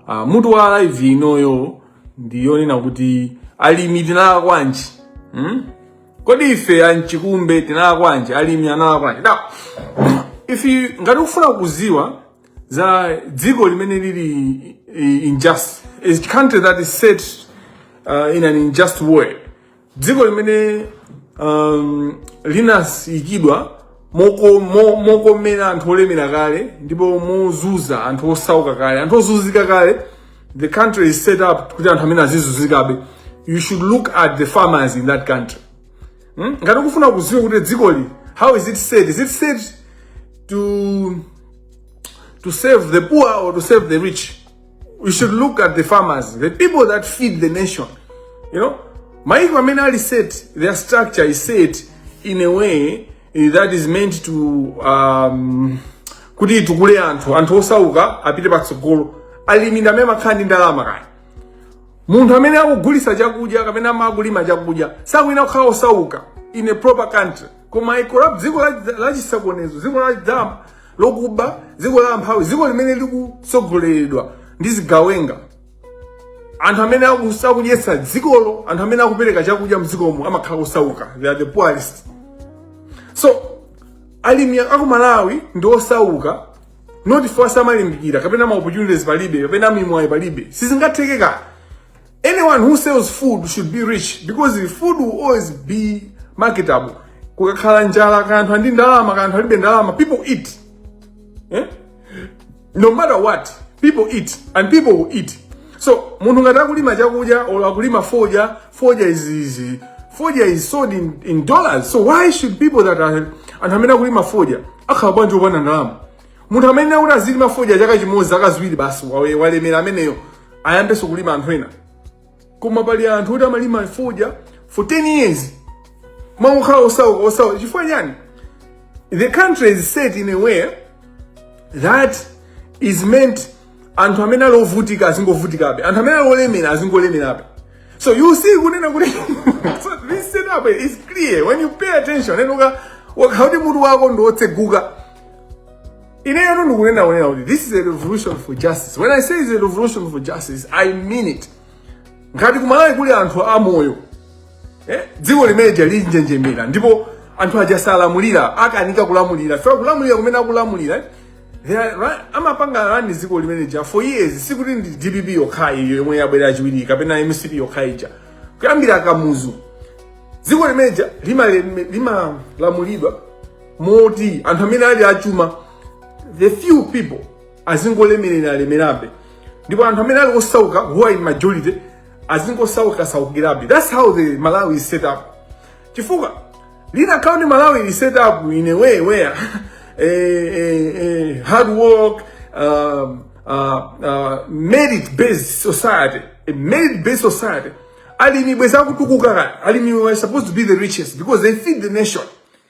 Ah, mutu wa live inoyo ndi yonena kuti alimi tinalakwanji hmm? kodi ife anchikumbe tinalakwanji alimi analakwanji now if you ngati ukufuna kuziwa za dziko limene lili eh, unjust country that is set uh, in an unjust way dziko limene um, linaikidwa moko- mo- mokomera anthu olemera kale ndipo mozuza anthu osauka kale anthu ozuzika kale the country is set up kuti anthu amene azizuzikabe you should look at the farmers in that country hmm? ngati ukufuna kuziwa kuti dzikoli how is it set is it set to to serve the poor or to serve the rich you should look at the farmers the people that feed the nation you know maiko amene ali set their structure is set in a way eh, that is meant to um, kuti itukule anthu anthu osauka apite patsogolo alimi ndi amene amakhala ndi ndalama kapena munthu amene akugulisa chakudya kapena amene akulima chakudya sayenera kukhala osauka in a proper country koma in a corrupt dziko la- lachisokonezo dziko la dzama lokuba dziko la amphawi dziko limene likutsogoleredwa ndi zigawenga anthu amene akusa- akudyetsa dzikolo anthu amene akupereka chakudya mdzikomo amakhala osauka they are the poorest so alimi aku malawi ndi osauka not coz samalimbikira kapena ma opportunities palibe kapena mimwayi palibe sizingatheke kaya Anyone who sells food should be rich because the food will always be marketable. Kukakhala njala kaya anthu ali ndi ndalama kaya anthu alibe ndalama people eat. Eh? No matter what, people eat and people will eat. So munthu ngati akulima chakudya or akulima fodya, fodya is easy. Fodya is sold in, in dollars. So why should people that are anthu amene akulima fodya akhala bwanji opanda ndalama? munthu amene akuti azilima fodya chaka chimodzi zaka ziwiri basi wawe walemera ameneyo ayambenso kulima anthu ena koma pali anthu oti amalima fodya for 10 years ma akukhala osauka osauka chifukwa chani the country is set in a way that is meant anthu amene ali ovutika azingovutikabe anthu amene ali olemera azingolemerabe so you see kunena kuti so this setup is clear when you pay attention and uka ukaona kuti mutu wako ndi wotseguka ineyotu ndikunena kunena kuti this is a revolution for justice when i say it's a revolution for justice i mean it ngati kumalawi kuli anthu amoyo eh? dziko limene lija linjenjemere ndipo anthu aja salamuliranso akanika kulamulira fe kulamulira kumene akulamulira eh? They are ra- amapanga run dziko limene lija for years sikuti ndi dpp yokhayi iyi yomwe yabwera kachiwiri kapena mcp yokhayi ija kuyambira kamuzu dziko limene lija limalamulidwa lima limalamulidwa moti anthu amene ali achuma the few people azingolemerera alemerabe ndipo anthu amene ali osauka who are in majority azingosauka saukirabe that's how the malawi is set up chifukwa the country malawi is set up in a way where eh, eh, eh, hard work um, uh, uh, merit based society a merit based society alimi bwenzi atatukuka kale alimi were supposed to be the richest because they feed the nation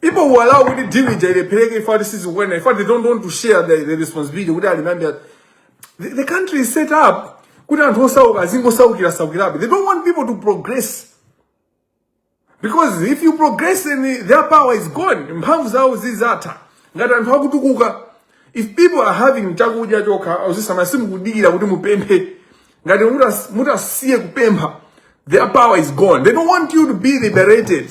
People who allow with the deal with the Pereke, in fact, this is when, in fact, they don't want to share the, the responsibility. Would I remember? The, the country is set up. They don't want people to progress. Because if you progress, then their power is gone. Mphamvu zawo zizatha. Ngati anthu akutukuka. If people are having chakudya chokha, ausisama simukudikira kuti mupemphe. Ngati mutasiye kupempha, their power is gone. They don't want you to be liberated.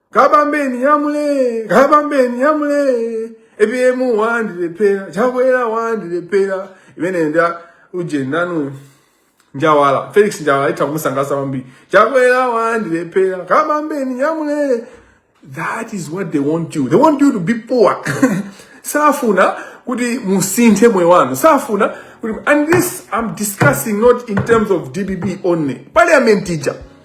kabambeni yamule kabambeni yamule apm wandilephera chakwera wandilephera imene nda ujeniyo njawala felix njawala itha kumusangalatsa kwambiri chakwera wandilephera kabambeni yamule that is what they want you they want you to be poor safuna kuti musinthe moyo wanu safuna kuti and this i'm discussing not in terms of dpp only parliament ija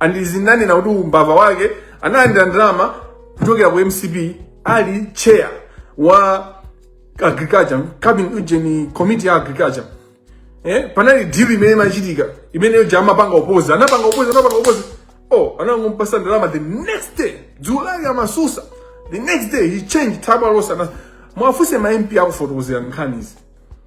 and ndizinanena kuti umbava wake analandira ndalama kuchokera ku mcp ali chair wa agriculture kaya ujeni committee ya agriculture eh panali deal imene imachitika imeneyo uja amapanga oppose anapanga oppose anapanga oppose oh anangompatsa ndalama the next day dzulo amatsutsa the next day he changed tabalosa muwafunse ma mp akufotokozerani nkhanizi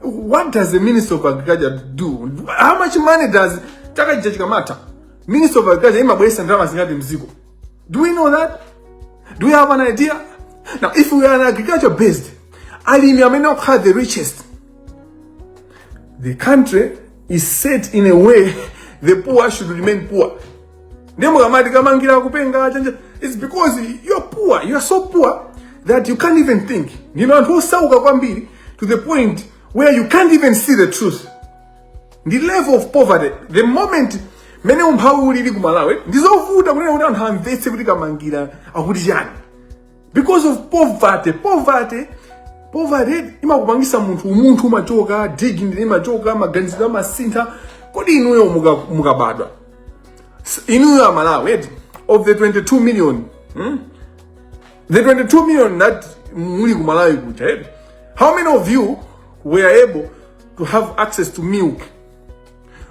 what does the minister of agriculture do how much money does chaka chija chikamatha minister of agriculture imabweresa ndalama zingati mziko do we know that do we have an idea now if we are an agriculture based alimi amene okhala the richest the country is set in a way the poor should remain poor ndiye mukamati kamangira kupenga chanja it's because you're poor you're so poor that you can't even think ndino anthu osauka kwambiri to the point where you can't even see the truth ndi level of poverty the moment mene umphawi ulili ku malawi ndizovuta kunena kuti anthu amvetse kuti kamangila akuti chani because of poverty poverty poverty imakupangisa munthu umunthu umachoka dignity imachoka maganizo amasintha kodi inuyo muka- mukabadwa S- inuyo amalawi eti of the 22 million hmm? The 22 million that muli ku Malawi kuja eti. How many of you were able to have access to milk?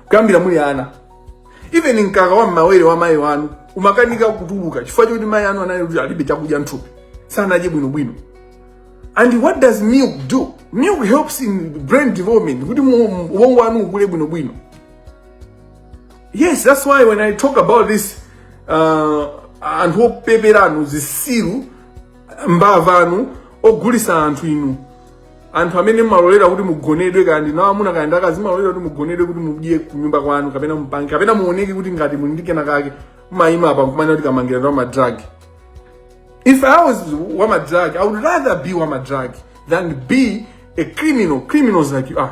Kuyambira muli ana. Even mkaka wa mmawere wa mayi anu umakanika kutuluka chifukwa choti mayi anu anali kuti alibe chakudya mthupi. Sanadye bwino bwino. And what does milk do? Milk helps in brain development kuti mu- mu- ubongo wanu ukule bwino bwino. yes that's why when i talk about this uh, anthu opepera inu zisiru mbava inu ogulisa anthu inu anthu amene mumalolera kuti mugonedwe kaya ndi amuna kaya ndi akazi mumalolera kuti mugonedwe kuti mudye kunyumba kwanu kapena mupange kapena muoneke kuti ngati muli ndi kena kake mumayima apa nkumanena kuti kamangila ndi wamadrag if i was wamadrag i would rather be wamadrag than be a criminal criminals like you are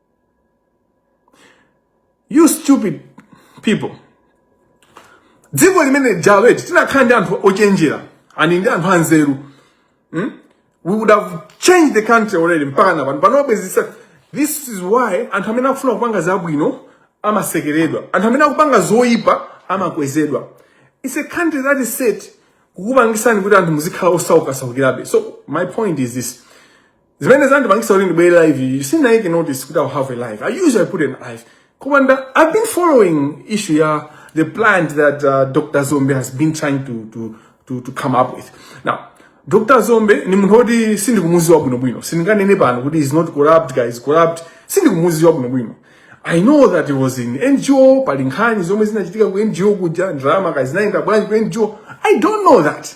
you stupid people dziko limene lija eti tinakhala ndi anthu ochenjera eni ndi anthu anzeru hmm? we would have changed the country already mpaka na pano panobe zisa this is why anthu amene akufuna kupanga zabwino amasekeredwa anthu amene akupanga zoyipa amakwezedwa it's a country that is set kukupangisani kuti anthu muzikhala osaukasaukirabe so my point is this zimene zandipangisa kuti ndibwere live iyi sindinayike notice kuti i'll have a live i usually put an live koma nde i've been following issue ya the plant that uh, dr dzombe has been trying to, to, to, to come up with now dr dzombe ndi munthu woti sindikumuziwa bwinobwino sindinganene pano kuti he's not corrupt kaya he's corrupt sindikumuziwa bwinobwino i know that he was in ngo pali nkhani zomwe zinachitika ku ngo kuja ndalama kaya zinayenda bwanji ku ngo i don't know that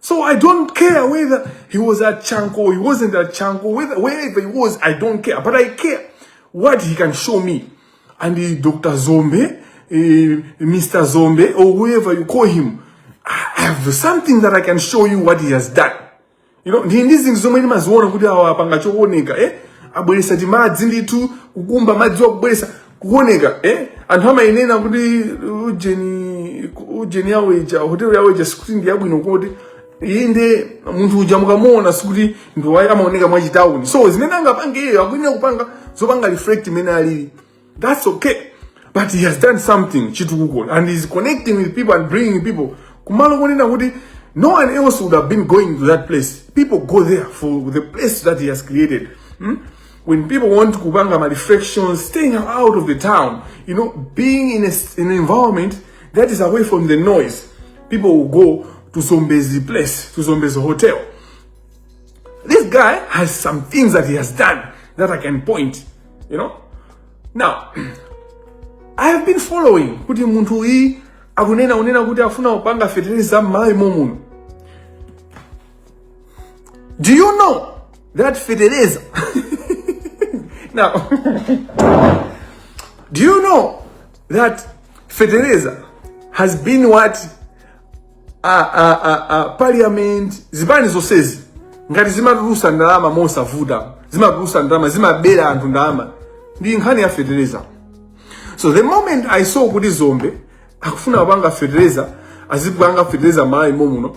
So I don't care whether he was at Chanco, he wasn't at Chanco, whether, wherever he was, I don't care. But I care what he can show me. And the Dr. Dzombe, uh, eh, Mr. Dzombe, or whoever you call him, I have something that I can show you what he has done. You know, ndili ndi zinthu zomwe ndimaziona kuti awa apanga chooneka, eh? Abweresa timadzi ndithu, kukumba madzi wa, kubweresa. kuoneka eh? anthu amayenera kuti ujeni ujeni yawo ija hotelo yawo ija sikuti ndi yabwino koti inde munthu uja mukamuona sikuti ndi wa ayi amaoneka mwachitawuni so zimene angapange iyeyo akuyenera kupanga zopanga reflect mmene alili that's okay but he has done something chitukuko and he's connecting with people and bringing people kumalo konena kuti no one else would have been going to that place people go there for the place that he has created hmm? When people want kupanga ma reflections, staying out of the town, you know, being in, a, in an environment that is away from the noise, people will go to Zombezi place, to Zombezi hotel. This guy has some things that he has done that I can point, you know. Now, I have been following kuti munthu uyi akunena unena kuti afuna kupanga fertilizer m'malawi momuno Do you know that fetereza? now, do you know that fetereza has been what uh, uh, uh, uh, parliament zipani zonsezi ngati zimatulusa ndalama mosavuta zimatulusa ndalama zimabera anthu ndalama ndi nkhani ya fetereza so the moment i saw kuti dzombe akufuna kupanga fetereza azipanga fetereza malawi momuno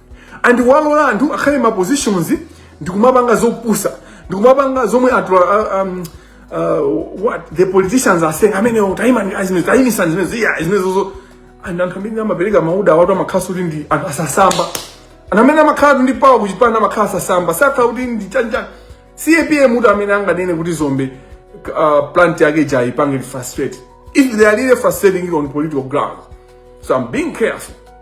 and walola anthu akhale ma positions ndikumapanga zopusa ndikumapanga zomwe anthu uh, um, uh, what the politicians are saying amenewo taimani azimene taimitsa zimene ija zimenezozo and anthu amene amapereka ma order awatu amakhala kuti ndi anthu osasamba anthu amene amakhala ndi power kuchipani amakhala osasamba sakhala kuti ndi chanjani capm kuti amene anganene kuti dzombe uh, plant yake ija ipange frustrate if they are really frustrating it on political grounds so i'm being careful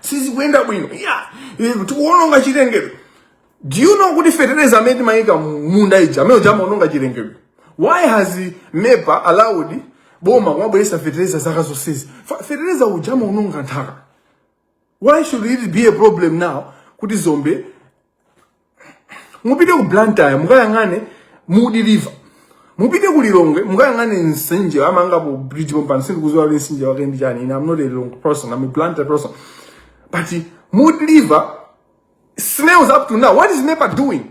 sizikuyenda bwino yeah. tikuononga chilengedwe do you know kuti fertilizer amene timayika m'munda uja amene uja amaononga chilengedwe why has mepa allowed boma kumabweresa fertilizer zaka zonsezi Fa- fertilizer uja amaononga nthaka why should it be a problem now kuti dzombe mupite ku blantyre mukayang'ane mudi river mupite ku lilongwe mukayang'ane mtsinje amanga bridge pompano sindikuziwa kuti mtsinje wake ndi chani ine am not a lilongwe person am a blantyre person but mudi river smells up to now what is mepa doing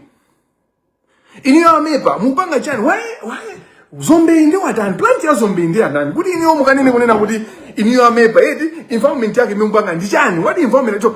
inuyo a mepa mupanga chani why why zombe yatani plant ya zombe yatani kuti inuyo mukanene kunena kuti inuyo a mepa eti environment yake imene mukupanga ndi chani what environment cho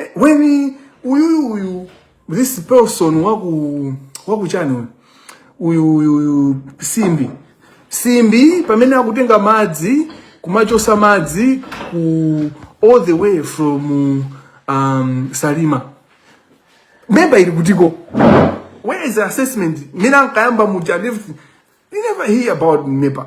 Eh, when uyu uyu this person waku wakuchani uyu uyu uyu uyu simbi simbi pamene akutenga madzi kumachosa madzi ku all the way from um, salima memba ili kutiko where is the assessment mina nkayamba muja he never hear about nepa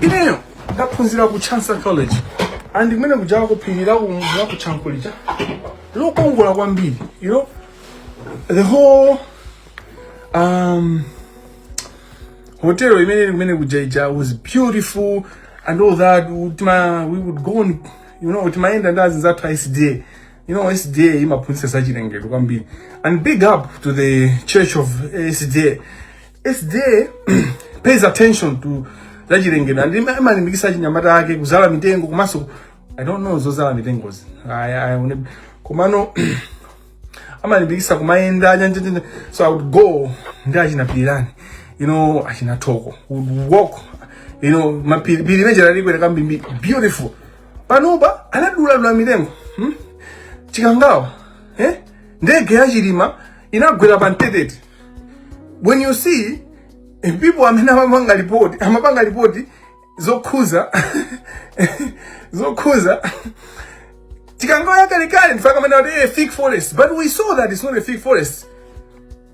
ineyo ndaphunzira ku chancellor college and kumene kuja kuphunzira kuja ku chanco lija lokongola kwambiri you know the whole um hotel imene ili kumene kuja ija was beautiful and all that You know, we would go on you know timayenda ndi azinzathu a sda You know, SDA imaphunzitsa za chilengedwe kwambiri. And big up to the Church of SDA. SDA pays attention to za chilengedwe and ima- imalimbikitsa achinyamata ake kuzala mitengo komanso I don't know zozala mitengozi. I, I, one- komano amalimbikitsa kumayenda panja panja so i would go ndi achina pilirani you know achina thoko would walk you know mapiri piri imene ija talikwera kambirimbiri beautiful panopa adaduladula mitengo hmm? chikangawa eh? ndege ya chilima inagwera pa mtetete when you see eh, people amene amapanga lipoti amapanga lipoti zokhuza zokhuza chikangawa yakalekale ndiye kaya amene ati eh, thick forest but we saw that it's not a thick forest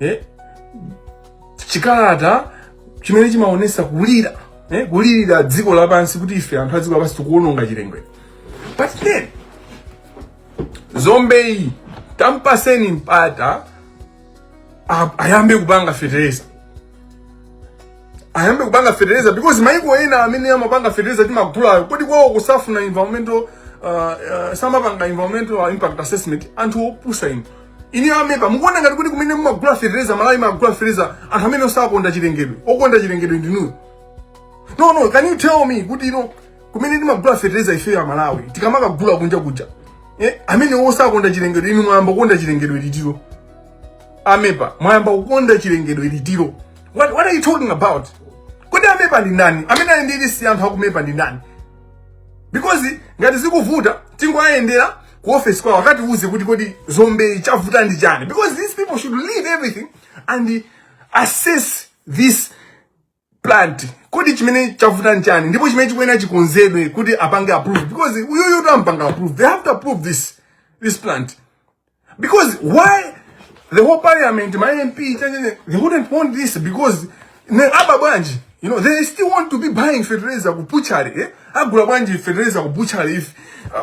eh? chikalata chimene chimaonesa kulira eh? kulirira dziko lapansi kuti ife anthu a dziko lapansi tikuononga chilengedwe but then zombeyi tampatseni mpata a- ayambe kupanga fetereza ayambe kupanga fetereza because maiko ena amene amapanga fetereza timagulawo kodi kwawo sakufuna environmental uh, uh, samapanga environmental impact assessment anthu opusa inu inu a mepa mukuona ngati kuti kumene mumagula fertilizer malawi imagula fertilizer anthu amene osakonda chilengedwe okonda chilengedwe ndi inuyo no no can you tell me kuti ino kumene timagula fertilizer ife a malawi tikamakagula kunja kuja eh, amene osakonda chilengedwe inu mwayamba kukonda chilengedwe liti a mepa mwayamba kukonda chilengedwe liti what, what are you talking about kodi a mepa ndi ndani amene ali ndi lisi anthu a ku mepa ndi ndani because ngati zikuvuta tingoyendera ku office kwawo akatiuze kuti kodi zombeyi chavuta ndi chani because these people should leave everything and assess this plant kodi chimene chavuta ndi chani ndipo chimene chikuyenera chikonzedwe kuti apange approve because uyuyu atampanga approve they have to approve this this plant because why the whole parliament my mp cha- cha- cha, they wouldn't want this because nde aba bwanji you know they still want to be buying fertilizer ku butchery eh agula bwanji fertilizer ku butchery eti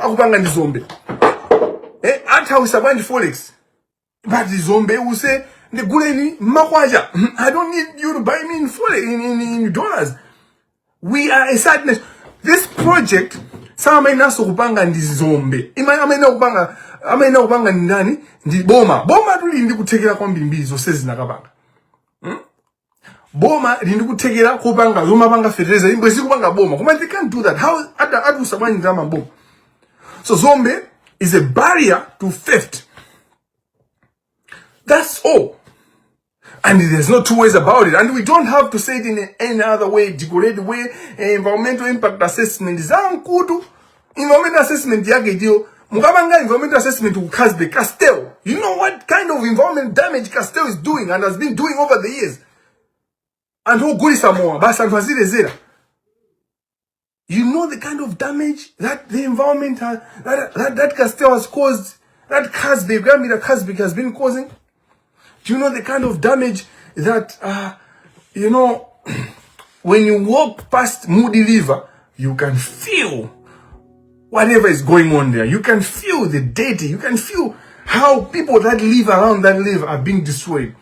akupanga ndi Zombe eh athawisa bwanji forex but Zombe is ndiguleni makwacha i don't need you to buy me in forex in, in, in dollars we are a sadness this project asainanso kupanga ndi zombe ayi amayenera kupanga amayenera kupanga ndi ndani ndi boma boma tuli ndi kuthekera kwambirimbiri zonse zinakapanga hmm? boma lindikuthekera kupanga zomapanga fertilizer imbwe zikupanga boma koma they can't do that how ata atusa bwanji ndalama boma so zombe is a barrier to theft that's all And there's no two ways about it. And we don't have to say it in any other way, decorated way. Eh, environmental impact assessment. Zankutu. environmental assessment yake ndiyo mukamanga environmental assessment ku casbe castel you know what kind of environment damage castel is doing and has been doing over the years anthu ogulisa mowa basi anthu azilezera you know the kind of damage that the environment has, that, that, that castel has caused that casbe kuyambira casbe has been causing Do you know the kind of damage that, uh, you know, when you walk past Moody River, you can feel whatever is going on there. You can feel the dirty. You can feel how people that live around that live are being destroyed.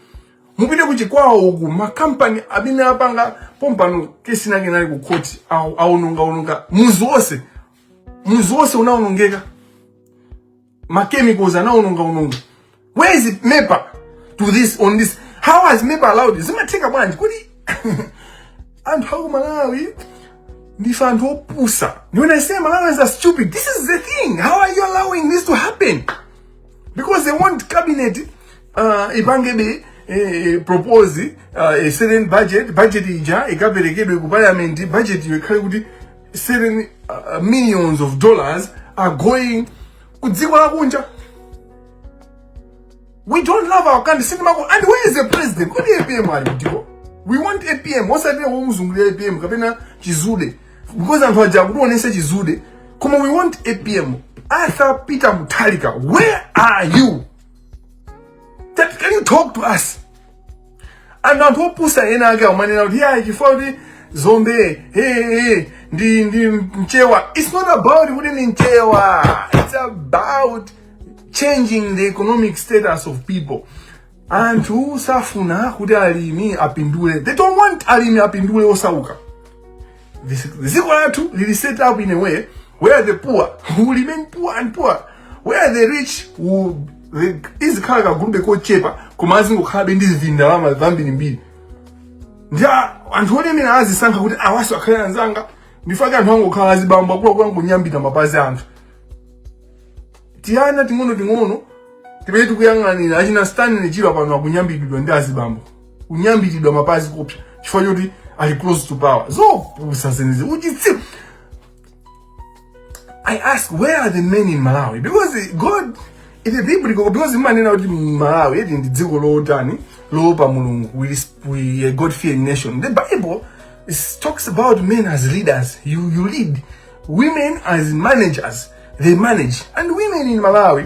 mupite kuchikwawo uku makampani amene apanga pompano kesi nake nali ku court aononga ononga muzi wonse muzi wonse unaonongeka ma chemicals anaononga ononga where is mepa to this on this how has mepa allowed this zimatheka bwanji kodi anthu aku malawi ndife anthu opusa when i say malawians are stupid this is the thing how are you allowing this to happen because they want cabinet uh, ipange eh, propose uh, a certain budget budget ija ikaperekedwe ku parliament budget iyo ikhale kuti certain uh, millions of dollars are going ku dziko lakunja we don't love our country sitimako and where is the president kodi apm ali kutiko we want apm osati womuzungulira apm kapena chithunzi because anthu aja akutionesa chithunzi koma we want apm arthur peter mutharika where are you that can you talk to us and anthu opusa ena ake akumanena kuti yayi chifukwa kuti zombe hey, hey, ndi ndi mchewa it's not about kuti ndi mchewa it's about changing the economic status of people anthu sakufuna kuti alimi apindule they don't want alimi apindule osauka This, dziko lathu lili set up in a way where the poor will remain poor and poor where the rich will the- azikhala kagulube kochepa koma azingokhalabe ndi zindalama zambirimbiri ndi a- anthu olemera azisankha kuti awanso akhale anzanga ndifake anthu angokhala azibambo akuluakulu angonyambita mapazi a anthu tiana ting'ono ting'ono timene tikuyang'anira achina stanley chirwa pano akunyambitidwa ndi azibambo kunyambitidwa mapazi kopsa chifukwa choti ali close to power zopusa zimenezi uchitsiru i ask where are the men in malawi because god it is biblical because imanena kuti malawi eti ndi dziko lotani loopa mulungu we, resp- we are a god fearing nation the bible is, talks about men as leaders you, you lead women as managers they manage and women in malawi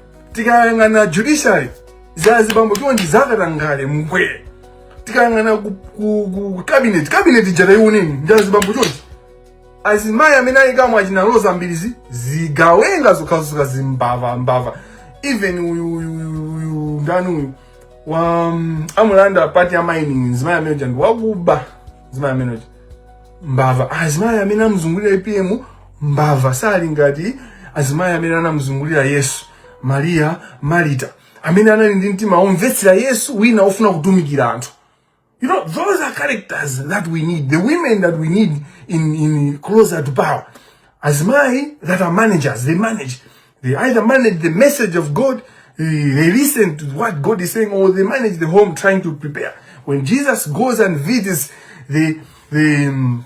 tikayang'ana judiciary nja azibambo chonchi zakatangale momwe tikayang'ana ku, ku, ku cabinet cabinet ija tayiwoneni nja azibambo chonchi azimayi amene ayikamo achina Roza Mbilizi zigawenga zokhazoka zimbava mbava even uyu uyu uyu uyu ndani uyu wa um, amulanda part ya mining mzimayi amene uja ndi wakuba mzimayi amene uja mbava azimayi amene amuzungulira apm mbava sali ngati azimayi amene anamuzungulira yesu mariya marita amene anali ndi mtima womvetsera yesu wina ofuna kutumikira anthu You know, those are characters that we need. The women that we need in, in closer to power. As my that are managers, they manage. They either manage the message of God, eh, they listen to what God is saying, or they manage the home trying to prepare. When Jesus goes and visits the the um,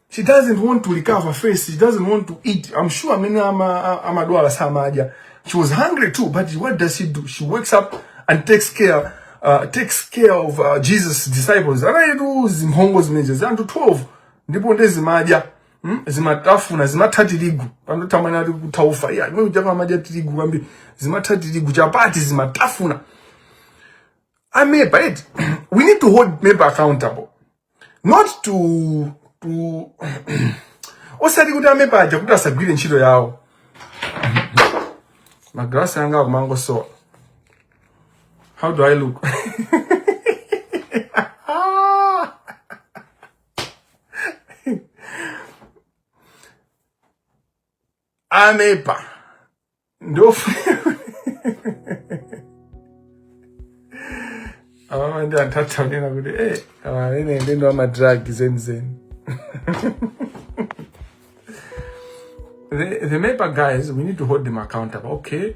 she doesn't want to recover first she doesn't want to eat i'm sure amene ama- a- amadwala samadya she was hungry too but what does she do she wakes up and takes care uh, takes care of uh, jesus disciples anaitu zimphongo zimenezo za anthu 12 ndipo nde zimadya mm? zimatafuna zimatha tirigu pandotamani ati kutha ufa iya inu kuchapa amadya tirigu kwambiri zimatha tirigu chapati zimatafuna a MEPA eti we need to hold MEPA accountable not to to osati kuti a MEPA aja kuti asagwire ntchito yawo magalasi anga akumangosowa how do i look a MEPA ndipo amama ndi anthu atitsatanetsere kuti e amene ndi ndi a madrug zenizeni the, the MEPA guys, we need to hold them accountable. Okay,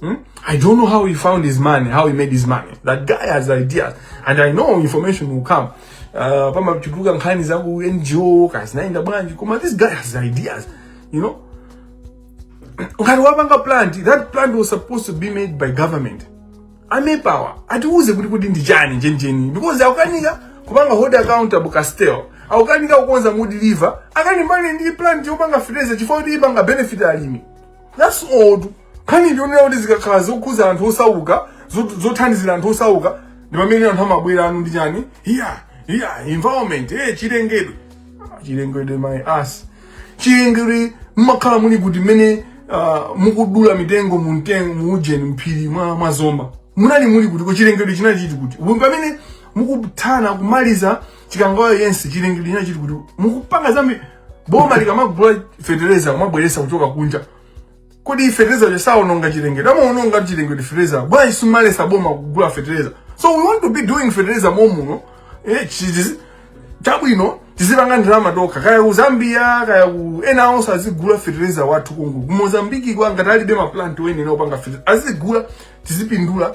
Hmm? I don't know how he found his money, how he made his money. That guy has ideas, and I know information will come. Uh, pamachuluka nkhani za ku NGO kazinaenda bwanji koma this guy has ideas, you know. Ngati wapanga plant, that plant was supposed to be made by government. A MEPA-wa atiuze kuti kuti ndi chani chenicheni because akukanika kupanga hold accountable Castel akukanika kukonza Mudi River akalimbane ndi plant yopanga fertilizer chifukwa kuti ipanga benefit alimi. that's all tu nkhani ndikuonera kuti zikakhala zikukhudza anthu osauka zot- zothandizira anthu osauka ndi pamene anthu amabwera ayi ndi chani iya iya environment eh chilengedwe Ah, chilengedwe my ass chilengedwe mmakhala muli kuti mmene ah, mukudula mitengo mu mtengo mu ujeni mphiri mwa mwa zomba mmakhala muli kuti ko chilengedwe chinali chili kuti Ubu pamene mukufuna kumaliza chikangawa yense chilengedwe chinali chili kuti mukupanga zambi boma likamagula fetereza kumabweretsa kuchoka kunja kodi fetereza uja saononga chilengedwe amaononga chilengedwe fetereza bwanji simumaletsa boma kugula fetereza so we want to be doing fetereza momwe muno eh, chizi- chabwino tizipanga ndalama tokha kaya ku zambia kaya ku ena onse azigula fetereza wathu konko ku mozambiki kaya ngati alibe maplanti amenewa opanga fetereza azigula tizipindula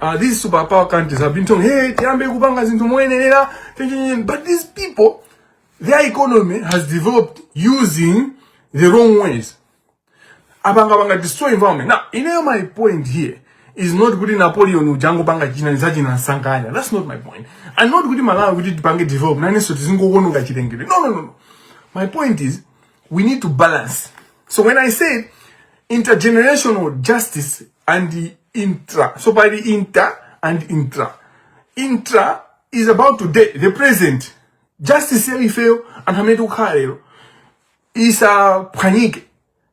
uh, these superpower countries have been told hey tiyambe kupanga zinthu moyenerera but these people their economy has developed using the wrong ways apanga panga destroy environment now you know my point here is not kuti napoleon uja angopanga china chilichonse chinasankhidwa that's not my point and not kuti malawi kuti tipange develop nanenso tizingoononga chilengedwe no no no no my point is We need to balance. So when I say intergenerational justice and the intra, so by the inter and intra, intra is about today, the present. Justice here ifeyo anthu amene tikukhala lero isaphwanyike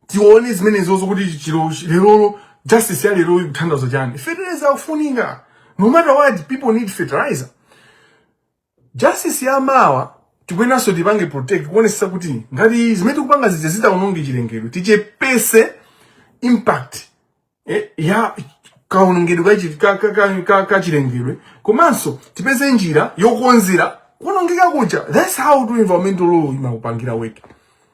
tione zimene izozo kuti chilo lerolo justice ya lero ikuthandauza chani fertilizer akufunika no matter what people need fertilizer Justice ya mawa tikuyeneranso tipange protect kuonesesa kuti ngati zimene tikupanga zija zidzaononge chilengedwe tichepese impact eh, ya kaonongedwe ka chi- ka- ka- ka- ka- ka chilengedwe komanso tipeze njira yokonzera kuonongeka kuja that's how environmental law imakupangira weki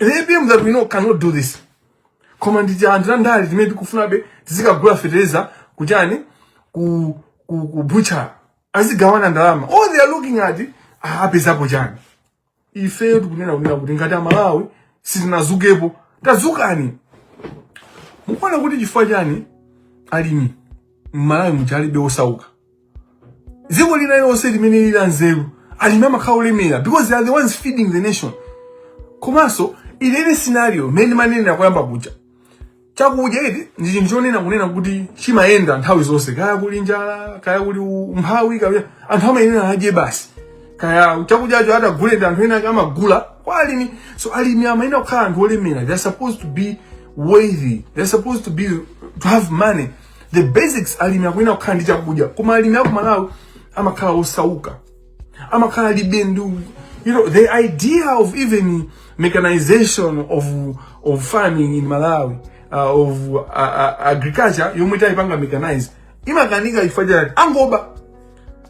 APM that we know cannot do this. Koma ndi anthu andale timene tikufunabe tizikagula fertilizer kujeni ku ku, ku butchala azigawana ndalama. All they are looking at ah, apezapo chani. Ifeyo tikunena kunena kuti ngati amalawi sitinazukepo tazukani. Kuona kuti chifukwa chani alimi mmalawi muja alibe osauka dziko lina lonse limene lili lanzeru alimi amakhala olemera because they are the ones feeding the nation komanso in any scenario mmene ndimanenera koyamba kuja chakudya ichi ndi chinthu chonena kunena kuti chimayenda nthawi zonse kaya kuli njala kaya kuli umphawi kaya anthu amayenera adye basi kaya chakudyacho atagule ndi anthu ena ake amagula kwa alimi so alimi amayenera kukhala anthu olemera they are supposed to be wealthy they are supposed to be to have money the basics alimi akuyenera kukhala ndi chakudya koma alimi aku malawi amakhala osauka amakhala alibe ndi you know the idea of even mechanization of of farming in malawi uh, of uh, uh, agriculture yomwe kuyipanga mechanize imakanika chifukwa chani amangoba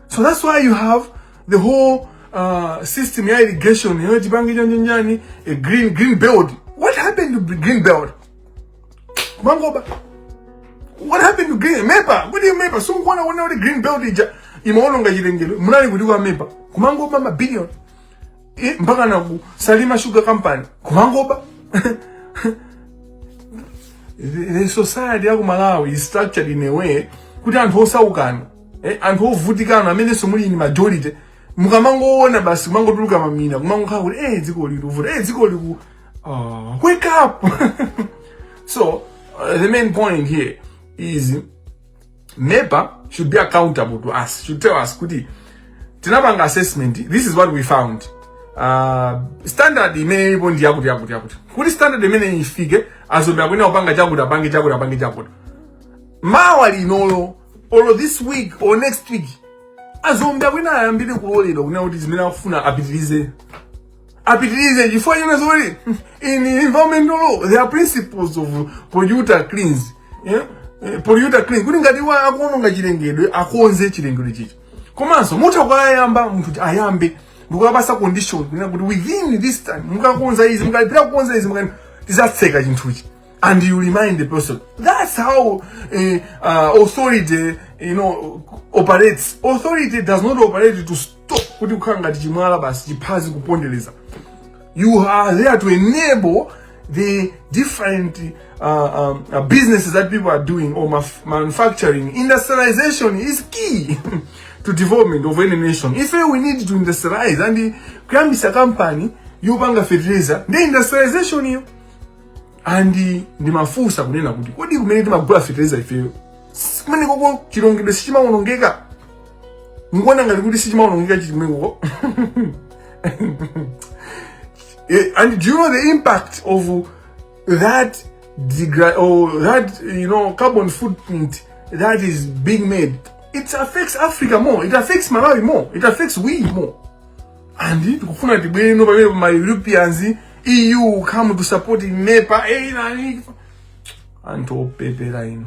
so that's why you have the whole uh, system ya irrigation yoti tipange chanichani a green green belt what happened to green belt kumangoba what happened to green mepa kuti mepa sikukuona kuona kuti green belt ija imaononga chilengedwe munali kuti kwa mepa kumangoba mabilion Eh, mpaka na ku salima sugar company kumangoba the, the society ya ku malawi is structured in a way kuti anthu osaukanu eh, anthu ovutikanu amenenso muli ni majority mukamangoona basi kumangotuluka mamina kumangokhala kuti eh dziko ili likuvuta eh dziko liku Uh, wake up! so, uh, the main point here is MEPA should be accountable to us, should tell us, kuti, tinapanga assessment, this is what we found. Uh, standard imene ilipo ndi yakuti yakuti yakuti kuti standard imeneyi ifike azombe akuyenera kupanga chakuti apange chakuti apange chakuti mawa lilinolo or this week or next week azombe akuyenera ayambirenso kuloledwa kunena kuti zimene akufuna apitirize apitirize chifukwa china zoti in environmental law there are principles of polluter cleans yeah? Eh, polluter clean kuti ngati wina akuononga chilengedwe akonze chilengedwe chija komanso musanakayambe munthu kuti ayambe ndikukapatsa condition kunena kuti within this time mukakonza izi mukalipira kukonza izi mukakana tizatseka chinthuchi and you remind the person that's how eh, uh, authority you know operates authority does not operate to kuti kukhala ngati chimwala basi chiphazi kupondereza you are there to enable the different uh, um, uh, businesses that people are doing or maf- manufacturing industrialization is key to development of any nation if we need to industrialize and kuyambisa company yopanga fertilizer ndi industrialization iyo and ndimafunsa kunena kuti kodi kumene timagula fertilizer ifeyo kumene koko chilongedwe sichimaonongeka mukuona ngati kuti sichimaonongeka chichimweko eh, and do you know the impact of that degra- or oh, that you know carbon footprint that is being made it affects africa more it affects malawi more it affects we more and tikufuna tibwereno pamene ma europeans eu come to support nepa eh, nani anthu opepera ino